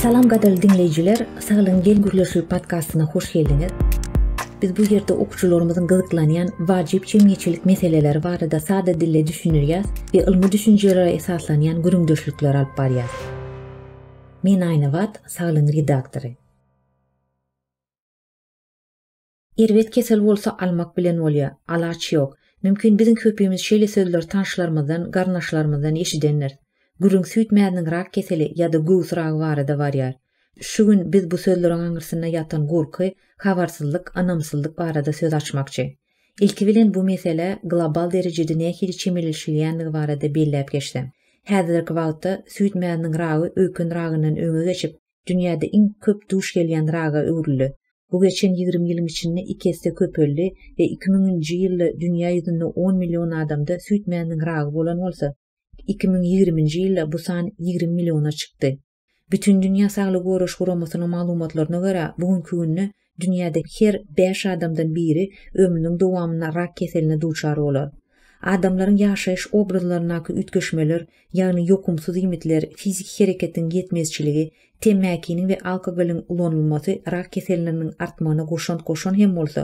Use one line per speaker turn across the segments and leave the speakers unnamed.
Salam gadyrly diňleýjiler, Saglygyň geň gürleşigi podkastyna hoş geldiňiz. Biz bu ýerde okuwçylarymyzyň gyzyklanýan wajyp jemgyýetçilik meseleleri barada sada dilde düşündirýäs we ylmy düşünjelere esaslanýan gürrüňdeşlikler alyp barýas. Men Aýnabat, Saglygyň redaktory. Erbet kesel bolsa almak bilen bolýar, alaç ýok. Mümkin biziň köpimiz şeýle sözleri tanşlarymyzdan, garyndaşlarymyzdan eşidendiris. Gürrüň süýt mäziniň rak keseli ýa-da göwüs ragy barada barýar. Şu gün biz bu sözleriň aňyrsynda ýatan gorky, habarsyzlyk, ynamsyzlyk barada söz açmakçy. Ilki bilen bu meselä global derejede nähili çemeleşilýändigi barada belläp geçsem. Häzirki wagtda süýt mäziniň ragy öýken ragyndan öňe geçip, dünýäde iň köp duş gelýän raga öwrüldi. Bu geçen ýigrimi ýylyň içinde iki esse köpeldi we iki müňünji ýylda dünýä ýüzünde on million adamda süýt mäziniň ragy bolan bolsa, iki müň ýigriminji ýylda bu san ýigrimi milliona çykdy. Bütindünýä saglygy goraş guramasynyň maglumatlaryna görä, bu günki günde Dünýäde her bäş adamdan biri ömrüniň dowamynda rak keseline duçar bolar. Adamlaryň ýaşaýyş obrazlaryndaky üýtgeşmeler, ýagny ýokumsyz iýmitler, fiziki hereketiň ýetmezçiligi, temmäkiniň we alkogolyň ulanylmasy rak keselleriniň artmagyna goşant goşan hem bolsa,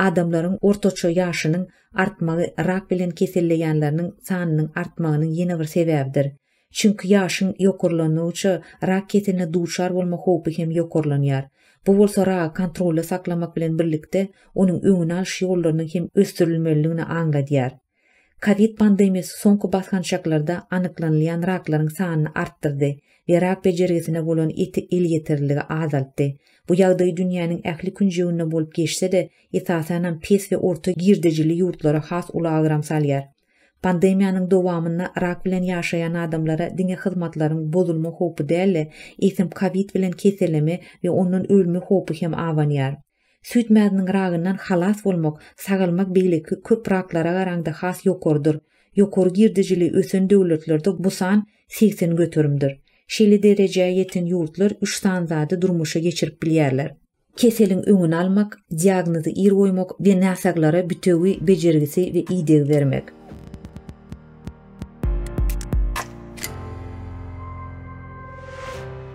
adamlaryň ortaça ýaşynyň artmagy rak bilen keselleýänleriniň sanynyň artmagynyň ýene bir sebäbidir. Çünki ýaşyň ýokarlandygyça rak keseline duçar bolma howpy hem ýokarlanýar. Bu bolsa ragy kontrolda saklamak bilen birlikde, onuň öňüni alyş ýollarynyň hem ösdürilmelidigini aňladýar. Kowid pandemiýasy soňky basgançaklarda anyklanylýan raklaryň sanyny artdyrdy we rak bejergisine bolan elýeterliligi azaltdy. Bu ýagdaý dünýäniň ähli künjeginde bolup geçse-de, esasanam pes we orta girdejili ýurtlara has uly agram salýar. Pandemiýanyň dowamynda rak bilen ýaşaýan adamlara diňe hyzmatlaryň bozulma howpy däl-de, eýsem kowid bilen keselleme we ondan ölme howpy hem abanýar. Süýt mäziniň ragyndan halas bolmak, sagalmak beýleki köp raklara garaňda has ýokarydyr. Ýokary girdejili ösen döwletlerde bu san segsen göterimdir. Şeýle derejä ýeten ýurtlar üç sany zady durmuşa geçirip bilýärler. Keseliň öňüni almak, diagnozy ir goýmak we näsaglara bitewi bejergisi we ideg bermek.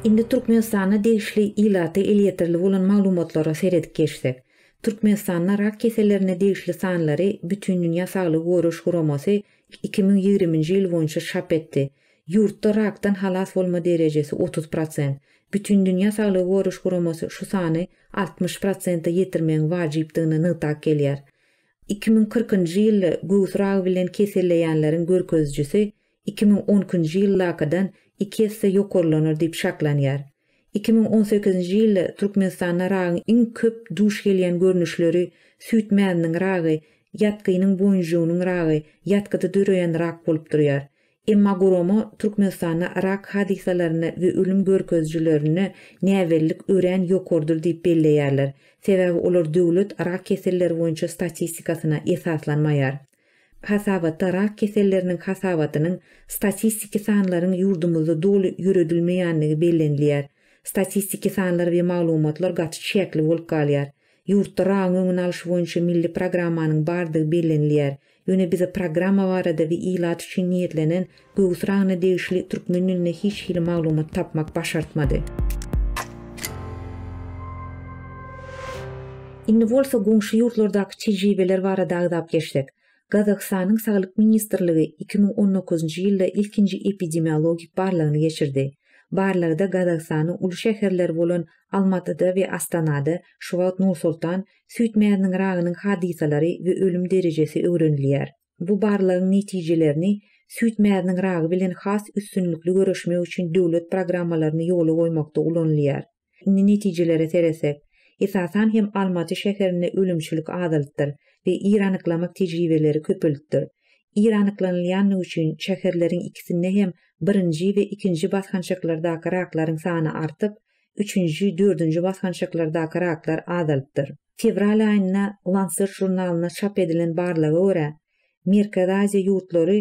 Indi Türkmenistana degişli ilata elýeterli bolan maglumatlara seredip geçsek. Türkmenistanda rak kesellerine degişli sanlary Bütindünýä Saglygy Goraýyş Guramasy iki müň ýigrimi nji ýyl boýunça çap etdi. Ýurtda rakdan halas bolma derejesi otuz prosent. Bütindünýä saglygy goraýyş guramasy şu sany altmyş prosente ýetirmegiň wajypdygyny nygtap gelýär. Iki müň kyrkynjy ýylda göwüs ragy bilen keselleýänleriň görkezijisi iki müň on ikinji ýyldakydan iki esse ýokarlanar diýip şaklanýar. Iki müň on sekizinji ýylda Türkmenistanda ragyň iň köp duş gelýän görnüşleri, süýt mäziniň ragy, ýatgynyň boýunjygynyň ragy, ýatgyda döreýän rak bolup durýar. Emma gurama Türkmenistanda rak hadysalarynda we ölüm görkezijilerinde näbellilik örän ýokarydyr diýip belleýärler, sebäbi olar döwlet rak keselleri boýunça statistikasyna esaslanmaýar. Hasabatda rak keselleriniň hasabatynyň statistiki sanlaryň ýurdumyzda doly ýöredilmeýändigi bellenilýär. Statistiki sanlar we maglumatlar gaty çäkli bolup galýar. Ýurtda ragyň öňüni alyş boýunça milli programmanyň bardygy bellenilýär. Ýöne bize programma barada we ilat üçin niýetlenen göwüs ragyna degişli türkmen dilinde hiç hili maglumat tapmak başartmady. Indi bolsa goňşy ýurtlardaky tejribeler barada agzap geçsek. Gazagystanyň Saglyk ministrligi iki müň on dokuzynjy ýylda ilkinji epidemiologik barlagyny geçirdi. Barlagda Gazagystanyň uly şäherleri bolan Almatyda we Astanada, şu wagt Nur-Sultan, süýt mäziniň ragynyň hadysalary we ölüm derejesi öwrenilýär. Bu barlagyň netijelerini süýt mäziniň ragy bilen has üstünlikli göreşmek üçin döwlet programmalaryny ýola goýmakda ulanylýar. Indi netijelere seretsek, esasan hem Almaty şäherinde ölümçilik azalypdyr we ir anyklamak tejribeleri köpelipdir. Ir anyklanylýandygy üçin şäherleriň ikisinde hem birinji we ikinji basgançaklardaky raklaryň sany artyp, üçünji, dördünji basgançaklardaky raklar azalypdyr. Fewral aýynda Lancet žurnalynda çap edilen barlaga görä, Merkezi Aziýa ýurtlary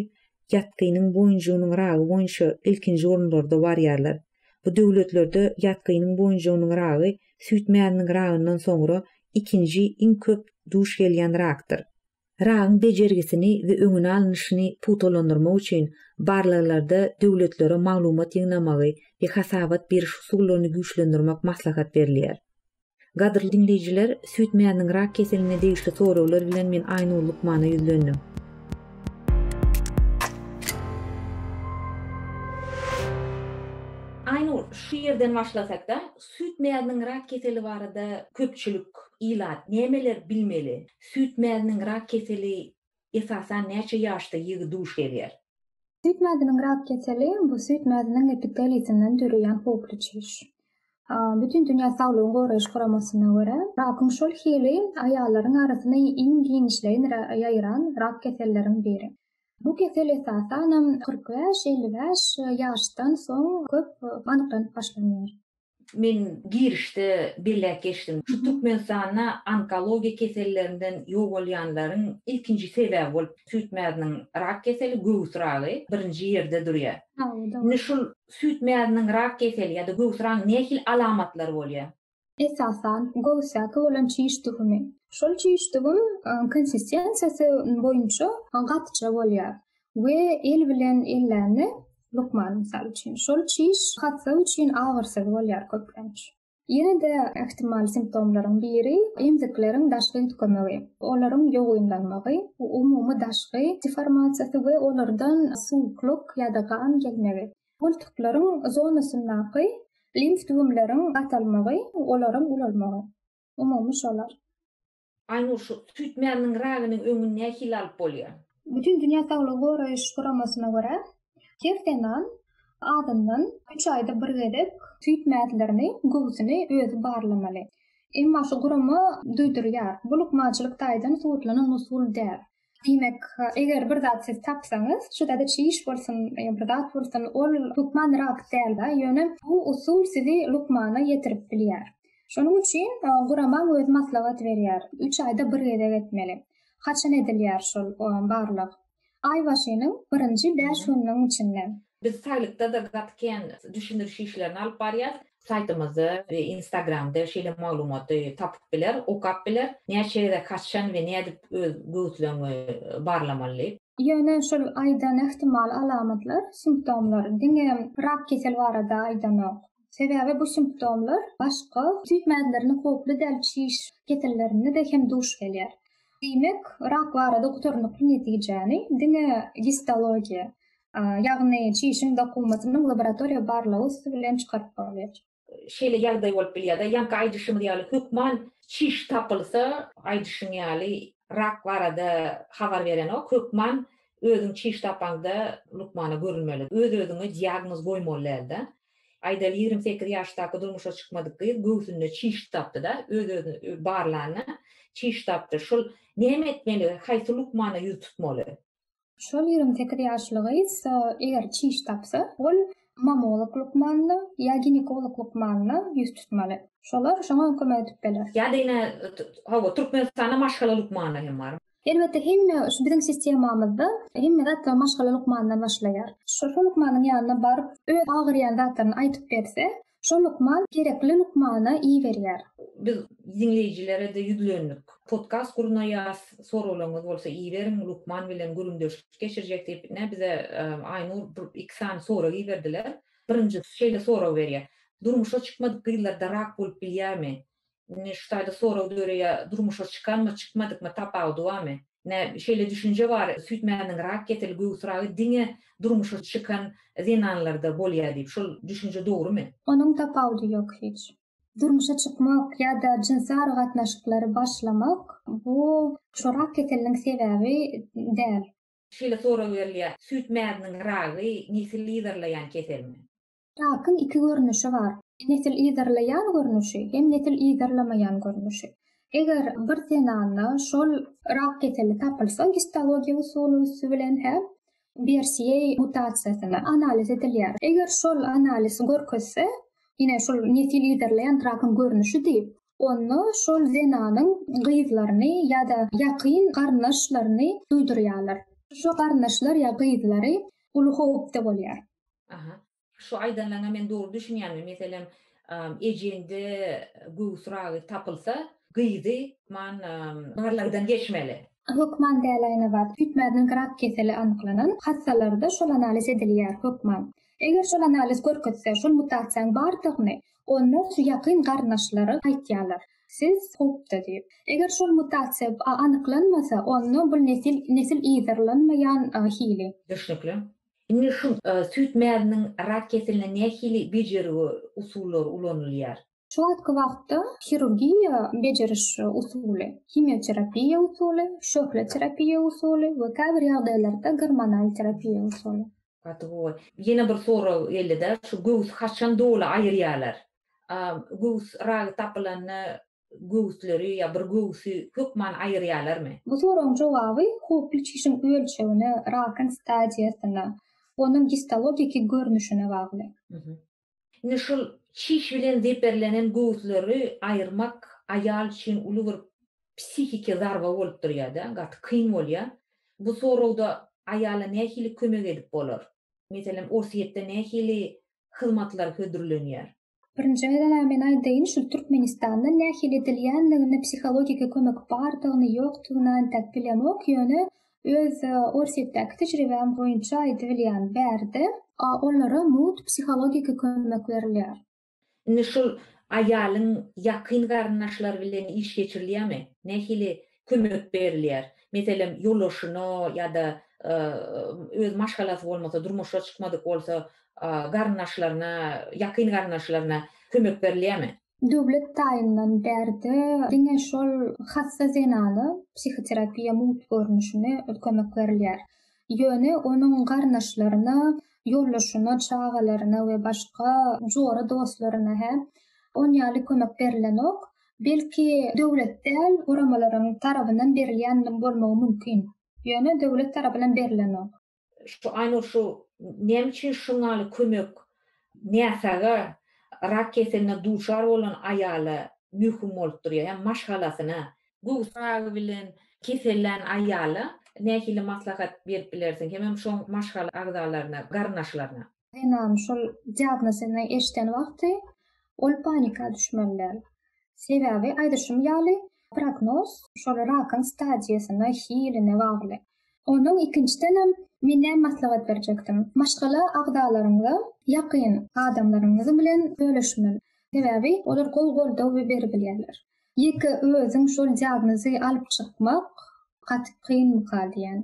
ýatgynyň boýunjygynyň ragy boýunça ilkinji orunlarda barýarlar. Bu döwletlerde ýatgynyň boýunjygynyň ragy süýt mäziniň ragyndan soňra ikinji iň köp duş gelýän rakdyr. Ragyň bejergisini we öňüni alnyşyny pugtalandyrmak üçin barlaglarda döwletlere maglumat ýygnamagy we hasabat beriş usullaryny güýçlendirmek maslahat berilýär. Gadyrly diňleýjiler, süýt mäziniň rak keseline degişli soraglar bilen men Aýnur lukmana ýüzlendim. Aýnur, şu ýerden başlasakda, süýt mäziniň rak keseli barada köpçülik, ilat nämeler bilmeli? Süýt mäziniň rak keseli Esasan näçe ýaşda ýigit duş gelýär? Süýt mäziniň rak keseli, bu süýt mäziniň epitelisinden döreýän howply çüş. Bütindünýä saglygy goraýyş guramasyna görä, rakyň şol hili aýallaryň arasynda iň giňişleýin ýaýran rak keselleriň biri. Bu kesel esasanam kyrk bäş, elli bäş ýaşdan soň köp anyklanyp başlanýar. Men girişde belläp geçdim. Şu Türkmenistanda onkologiýa kesellerinden ýogalýanlaryň ilkinji sebäbi bolup süýt mäziniň rak keseli, göwüs ragy birinji ýerde durýar. Indi şul süýt mäziniň rak keseli ýa-da göwüs ragynyň nähili alamatlary bolýar? Esasan, göwüsdäki bolan çiş düwümi. Şol çiş düwüm konsistensiýasy boýunça gatyja bolýar. we el bilen ellände lukman mysal üçin şol çiş hassy üçin agyrsyz bolýar köplenç. Ýene-de ähtimal simptomlaryň biri emzikleriň daşky üýtgemegi, olaryň ýogynlanmagy, umumy daşky deformasiýasy we olardan suwuklyk ýa-da gan gelmegi, gultuklaryň zonasyndaky limf düwümleriň gatalmagy, olaryň ulalmagy. Umumy şolar. Aynur şu süýt mäniniň ragynyň öňüni nähili alyp bolýa? Bütin dünýä saglygy goraýyş guramasyna görä her zenan azyndan üç aýda bir gezek süýt mäzlerini, göwsüni özi barlamaly. Emma şu gurama duýdurýar, bu lukmançylyk taýdan subutlanan usul däl. Diýmek, eger bir zat siz tapsaňyz, şu zada çiş bolsun, ýa bir zat bolsun, ol hökman rahat däldi, ýöne bu usul sizi lukmana ýetirip bilýär. Şonuň üçin guramaň özi maslahat berýär, üç aýda bir gezek etmeli. Haçan edilýär şol barlag? Aý başynyň birinji bäş gününiň içinde. Biz saýlykda-da gaty kän düşündiriş işlerini alyp barýas. Saýtymyzda we instagramda şeýle maglumaty tapyp biler, okap biler. Näçe gezek haçan we nädip öz göwüsleňi barlamaly. Ýöne şul aýdan ähtimal alamatlar, simptomlar diňe rak keseli barada aýdanok. Sebäbi bu simptomlar başga süýt mäzlerine howply däl çiş kesellerinde-de hem duş gelýär. Diýmek, rak barada gutarnykly netijäni diňe gistologiýa, ýagny çişiň dokumasynyň laboratoriýa barlagy üsti bilen çykaryp bolýar. Şeýle ýagdaý bolup bilýär-de, ýaňky aýdyşymyz ýaly hökman çiş tapylsa, aýdyşyň ýaly rak barada habar berenok, hökman özüň çiş tapaňda lukmana görünmeli. Öz-özüňe diagnoz goýmaly däl-de. Aýdaly ýigrimi sekiz ýaşdaky durmuşa çykmadyk gyz göwsünde çiş tapdy-da, öz-özüni barlanda çiş tapdy. Şol näme etmeli, haýsy lukmana ýüz tutmaly? Şol ýigrimi sekiz ýaşly gyz eger çiş tapsa, ol mammolog lukmanyna ýa ginekolog lukmanyna ýüz tutmaly. Şolar şoňa kömek edip biler. Ýa-da ine, hawa, Türkmenistanda maşgala lukmany hem bar. Elbetde, hemme şu biziň sistemamyzda hemme zatlar maşgala lukmanyndan başlaýar. Şol lukmanyň ýanyna baryp, öz agyrýan zatlaryny aýdyp berse, Şo lukman gerekli lukmana iberýär. Biz diňleýjilere-de ýüzlendik. Podkast gurnaýas, soraglaryňyz bolsa iberiň, lukman bilen gürrüňdeşlik geçirjek diýip, ine bize Aýnur bir iki sany sorag iberdiler. Birinjisi şeýle sorag berýär, Durmuşa çykmadyk gyzlarda rak bolup bilýärmi? Indi şu taýda sorag döreýär, durmuşa çykanmy, çykmadykmy tapawudy barmy? Ine, şeýle düşünje bar, süýt mäziniň rak keseli, göwüs ragy diňe durmuşa çykan zenanlarda bolýar diýip. Şol düşünje dogrumy? Onuň tapawudy ýok hiç. Durmuşa çykmak ýa-da jynsy aragatnaşyklary başlamak, bu şu rak keseliniň sebäbi däl. Şeýle sorag berilýär, süýt mäziniň ragy nesil yzarlaýan keselmi? Rakyň iki görnüşi bar. Nesil yzarlaýan görnüşi hem nesil yzarlamaýan görnüşi. Eger bir zenanda şol rak keseli tapylsa, gistologiýa usuly üsti bilen hem BRCA mutasiýasyna analiz edilýär. Eger şol analiz görkezse, ine şol nesil yzarlaýan rakyň görnüşi diýip, onda şol zenanyň gyzlaryny ýa-da ýakyn garyndaşlaryny duýdurýarlar. Şo garyndaşlar ýa gyzlary uly howpda bolýar. Aha. Şu aýdanlaryňa men dogry düşünýänmi? Meselem, ejeňde göwüs ragy tapylsa, gyzy man barlagdan geçmeli. Hökman däl Aýnabat. Süýtmäziniň grak keseli anyklanan hassalarda şol analiz edilýär, hökman. Eger şol analiz görkezse, şol mutasiýaň bardygyny, onda şu ýakyn garyndaşlary aýtýarlar. Siz howpda diýip. Eger şol mutasiýa anyklanmasa, onda bul nesil nesil yzarlanmaýan hili. Düşnükli. Indi şu süýt mäziniň rak keseline nähili bejergi usullary ulanylýar? Şu wagtky wagtda hirurgiýa bejeriş usuly, himioterapiýa usuly, şöhle terapiýa usuly we käbir ýagdaýlarda gormonal terapiýa usuly. Gaty gowy. Ýene bir sorag geldi-de, şu göwüsi haçan doly aýyrýarlar? Göwüs ragy tapylanda göwüsleri ýa bir göwüsi hökman aýyrýarlarmy? Bu soragyň jogaby howply çişiň ölçegine, rakyň stadiýasyna, onuň gistologiki görnüşine bagly. Indi şol çiş bilen zeperlenen göwüsleri aýyrmak aýal üçin uly bir psihiki zarba bolup durýar-da, gaty kyn bolýar. Bu soragda aýala nähili kömek edip bolar? Meselem, orsýetde nähili hyzmatlar hödürlenýär? Birinji gezeg-ä men aýdaýyn şul Türkmenistanda nähili edilýändigini psihologiki kömek bardygyny ýokdugyny antak bilemok ýöne öz Orsýetdäki tejribäm boýunça aýdybilýän bärde olara mugt psihologiki kömek berilýär. Indi şul aýalyň ýakyn garyndaşlary bilen iş geçirilýärmi? Nähili kömek berilýär. Meselem, ýolbaşçyna ýa-da öz maşgalasy bolmasa, durmuşa çykmadyk bolsa, garyndaşlaryna, ýakyn garyndaşlaryna kömek berilýärmi? Döwlet taýyndan bärde diňe şol hassa zenana psihoterapiýa mugt görnüşinde kömek berilýär. Ýöne onuň garyndaşlaryna, ýoldaşyna, çagalaryna we başga jora dostlaryna-hä on ýaly kömek berilenok. belki, döwlet däl, guramalaryň tarabyndan berilýän bolmagy mümkin. Ýöne döwlet tarapyndan berilenok. Şu Aýnur şu näme üçin şuňaly kömek näsaga rak keseline duçar bolan aýala möhüm bolup durýar hem maşgalasyna? Göwüs ragy bilen kesellän aýala nähili maslahat berip bilersiň hemem şoň maşgala agzalaryna, garyndaşlaryna? Zenanyň şol diagnozyny eşiden wagty ol panika düşmeli däl. Sebäbi aýdyşym ýaly, prognoz şol rakyň stadiýasyna, hiline bagly. Ondan ikinjidenem men näme maslahat berjekdim? Maşgala agzalaryňyza, ýakyn adamlaryňyz bilen bölüşmeli. Sebäbi olar gowy goldaw beribilýärler. Ýeke özüň şol diagnozy alyp çykmak gaty kynmyka diýýän.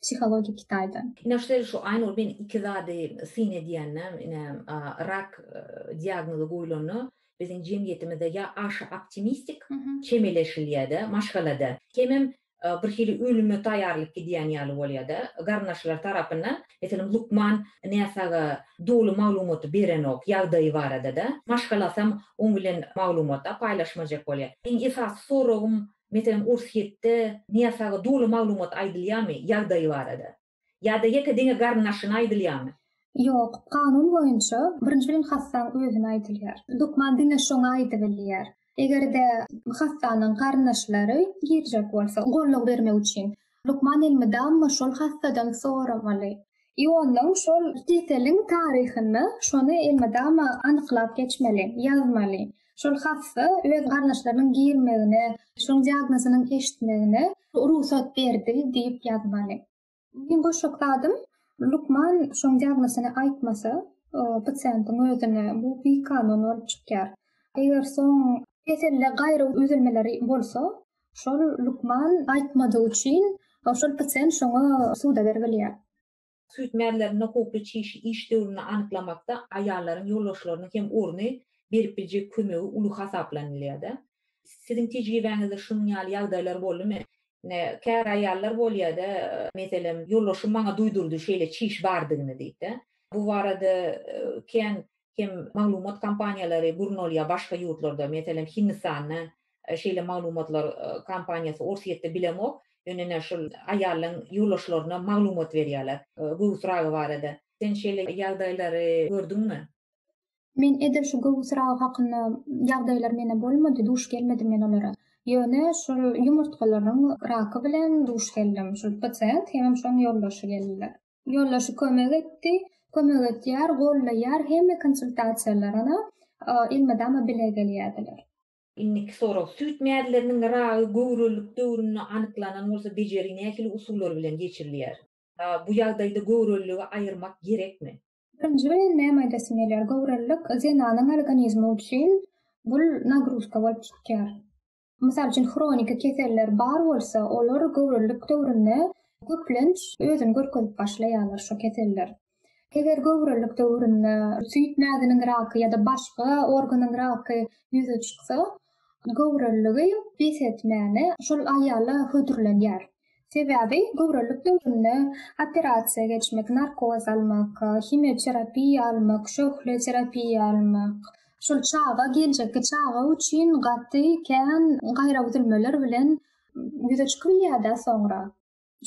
Psihologiýa Kitaydan. Ine şeýle şu Aýnur men iki zady syn edýändem ine rak diagnozy goýlanda biziň jemgyýetimizde ýa aşa optimistik çemeleşilýäde maşgalada hemem bir hili ölüme taýýarlyk gidýän ýaly bolýada garyndaşlar tarapyndan meselem lukman näsaga doly maglumaty berenok ýagdaýy baradada maşgalasam oň bilen maglumata paýlaşmajak bolýa meň esasy soragym Meselem, Urshitde Nyýas aga doly maglumat aýdylýarmy, ýagdaýy barada? Ýa-da ýeke diňe garyndaşyna aýdylýarmy? Ýok, kanun boýunça birinji bilen hassaň özüne aýdylýar. Lukman diňe şoňa aýdybilýär. Eger-de hassanyň garyndaşlary girjek bolsa, goldaw bermek üçin. Lukman elmydama şol hassadan soramaly. Iondan şol keseliň taryhyny şony elmydama anyklap geçmeli, ýazmaly. Şol hassa öz garyndaşlarynyň girmegine, şoň diagnozynyň eşitmegine rugsat berdi diýip ýazmaly. Meň goşjak zadym, lukman şoň diagnozyny aýtmasa, pasiýentiň özüne bu bikanun bolup çykýar. Eger soň keselde gaýry üzülmeler bolsa, Şol lukman aýtmadygy üçin şol pasient şoňa suda berip bilýär. Süýt mäzleriniň howply çişi iş döwrüni anyklamakda aýallaryň ýolbaşçylarynyň hem orny berip biljek kömegi uly hasaplanylýar-da. Siziň tejribäňizde şunuň ýaly ýagdaýlar boldumy? Ine, käbir aýallar bolýar-da, meselem, ýolbaşçym maňa duýdurdy şeýle çiş bardygyny diýip-de. Bu barada kän hem maglumat kampaniýalary gurnalýar başga ýurtlarda, meselem, Hindistanda şeýle maglumatlar kompaniýasy Orsýetde bilemok, ýöne ine şul aýallaň ýoldaşlaryna maglumat berýärler göwüs ragy barada. Sen şeýle ýagdaýlary gördüňmi? Men edil şu göwüs ragy hakynda ýagdaýlar mene bolmady, duş gelmedim men olara. Ýöne şol ýumurtgalaryň raky bilen duş geldim. Şul pasiýent hemem şoň ýoldaşy geldiler. Ýoldaşy kömek etdi, kömek etýär, gollaýar, hemme konsultasiýalarana elmydama bile gelýärdiler. Indiki sorag, süýt mäzleriniň ragy göwrelilik döwründe anyklanan bolsa bejeri nähili usullar bilen geçirilýär? Bu ýagdaýda göwreliligi aýyrmak gerekmi? Birinji bilen näme aýdasyň gelýär, göwrelilik zenanyň organizmi üçin bul nagruzka bolup çykýar. Mysal üçin hroniki keseller bar bolsa olar göwrelilik döwründe köplenç özüni görkezip başlaýarlar şo keseller. Eger göwrelilik döwründe süýt mäziniň raky ýa-da başga organyň raky ýüze çyksa, göwreliligi bes etmäne şol aýala hödürlenýär. Sebäbi göwrelilik döwründe operasiýa geçmek, narkoz almak, himioterapiýa almak, şöhle terapiýa almak, şol çaga, geljekki çaga üçin gaty kän gaýraüzülmeler bilen ýüze çykybilýär-dä soňra.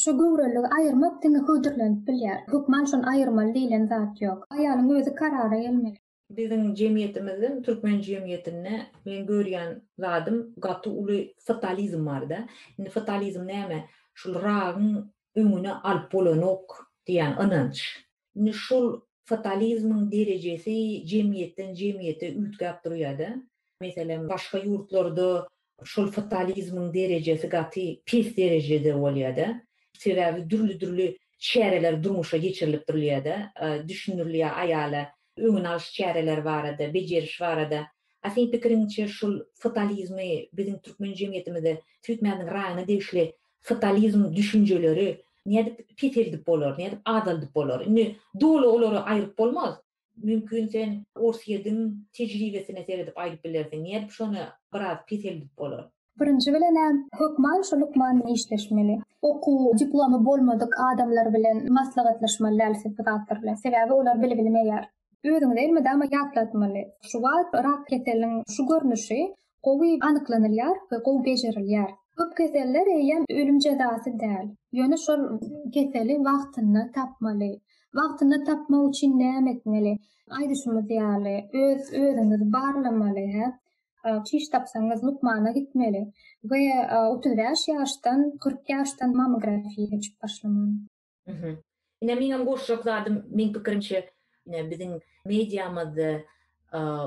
Şu göwreligi aýyrmak diňe hödürlenip bilýär. Hökman şony aýyrmaly diýlen zat ýok. Aýalyň özi karara gelmeli. Biziň jemgyýetimizde, türkmen jemgyýetinde men görýän zadym gaty uly fatalizm barda. Indi fatalizm näme? Şul ragyň öňüni alyp bolanok diýýän ynanç. Indi şol fatalizmiň derejesi jemgyýetden jemgyýete üýtgäp durýar-da. Meselem, başga ýurtlarda şol fatalizmiň derejesi gaty pes derejede bolýar-da. Sebäbi dürli-dürli çäreler durmuşa geçirilip durulýar-da, düşündirilýär aýala öňüni alyş çäreleri barada, bejeriş barada. A seň pikiriňçe, şol fatalizmi biziň türkmen jemgyýetimizde süýtmäniň raýyna degişli Sotalizm düşünjeleri nädip peseldip bolar, nädip azaldyp bolar? Indi doly olary aýryp bolmaz. Mümkin sen Orsýediň tejribesine seredip aýdyp bilersiň, nädip şony biraz peseldip bolar? Birinji bilenem, hökman şu lukman bilen işleşmeli. Okuw, diplomy bolmadyk adamlar bilen maslahatlaşmaly däl siz bu zatlar bilen. Sebäbi olar bili bilmeýär. Özüňize elmydama ýatlatmaly, şu wagt rak keseliniň şu görnüşi gowy anyklanylýar we gowy bejerilýär. Köp keseller eýýäm ölüm jezasy däl. Ýöne şol keseli wagtynda tapmaly. Wagtynda tapmak üçin näme etmeli? Aýdyşymyz ýaly, öz özüňizi barlamaly, hä? Çiş tapsaňyz, lukmana gitmeli we otuz bäş ýaşdan, kyrk ýaşdan mammografiýa geçip başlamaly. Mhm. Ine meňem goşjak zadym, meň pikirimçe, ine biziň mediamyzda,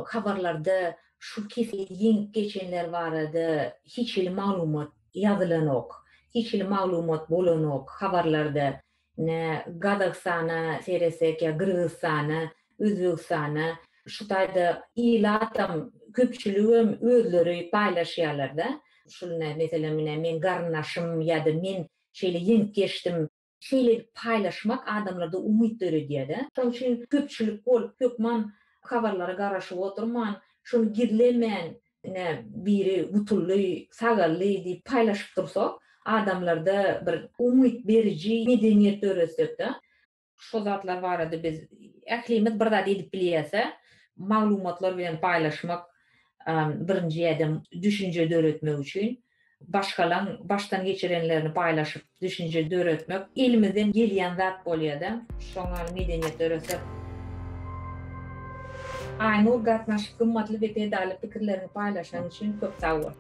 habarlarda şu keseli ýeňip geçenler barada hiç hili maglumat ýazylanok. Hiç hili maglumat bolanok habarlarda. Ine Gazagystana seretsek ýa Gyrgyzystana, Özbegistana, şu taýda ilatam, köpçüligem özleri paýlaşýarlar-da. Şul ine meselem ine meň garyndaşym ýa-da men şeýle ýeňip geçdim. Şeýle edip paýlaşmak adamlarda umyt döredýär-de. Şonuň üçin köpçülik bolup hökman habarlara garaşyp oturman, şuny gizlemän, ine, biri gutuldy, sagaldy diýip paýlaşyp dursak, adamlarda bir umyt beriji medeniýet döretsekde, şol zatlar barada biz ählimiz bir zat edip bilýäs-ä, maglumatlar bilen paýlaşmak birinji ädim düşünje döretmek üçin, başgalaň başdan geçirenlerini paýlaşyp düşünje döretmek elimizden gelýän zat bolýa-da, şoňa medeniýet döresek. Aýnur gatnaşyp gymmatly we peýdaly pikirleriňi paýlaşanyň üçin köp sag bol.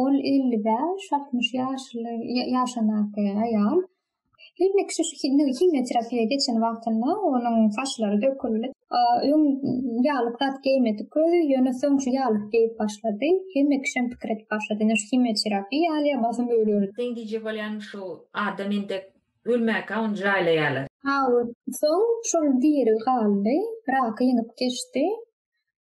Ol elli bäş, altmyş ýaşly ýaşandaky aýal. Hemme kişi şu himni himnoterapiýa geçen wagtynda onuň saçlary döküldi. Öň ýaglyk zat geýmedik özi, ýöne soň şu ýaglyk geýip başlady. Hemme kişi hem pikir edip başlady, indi şu himnoterapiýa alýar, basym öler. Seň diýjek bolýanyň şu adam indi ölmäkä ony jaýlaýarlar. Hawa, soň şol diri galdy, raky ýeňip geçdi.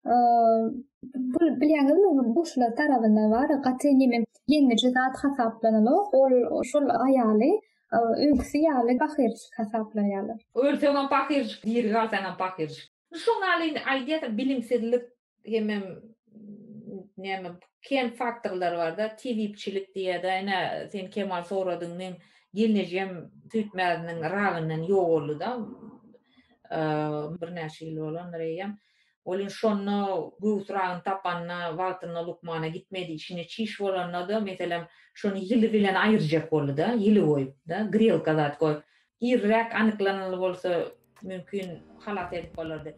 bu bilýäňizmi buşlar tarabynda bar gaty nemen ýeňiji zat hasaplanylok ol şol aýaly öňküsi ýaly pahyrjyk hasaplaýarlar ölseňem pahyrjyk diri galsaňam pahyrjyk şoň ýaly indi aýdýarsyň bilimsizlik hemem näme kem faktorlar barda tebipçilik diýýäda ine sen Kemal soradyň meň gelnejem süýt mäziniň ragyndan ýogaldyda birnäçe ýyl bolandyr eýýäm Ol indi şonda göwün syragyny tapanda, wagtynda lukmana gitmedi, içinde çiş bolanda-da, meselem, şony ýyly bilen aýyrjak boldy-da, ýyly goýup-da, grelka zat goýup. Irräk anyklanyly bolsa, mümkin, halas edip bolardy.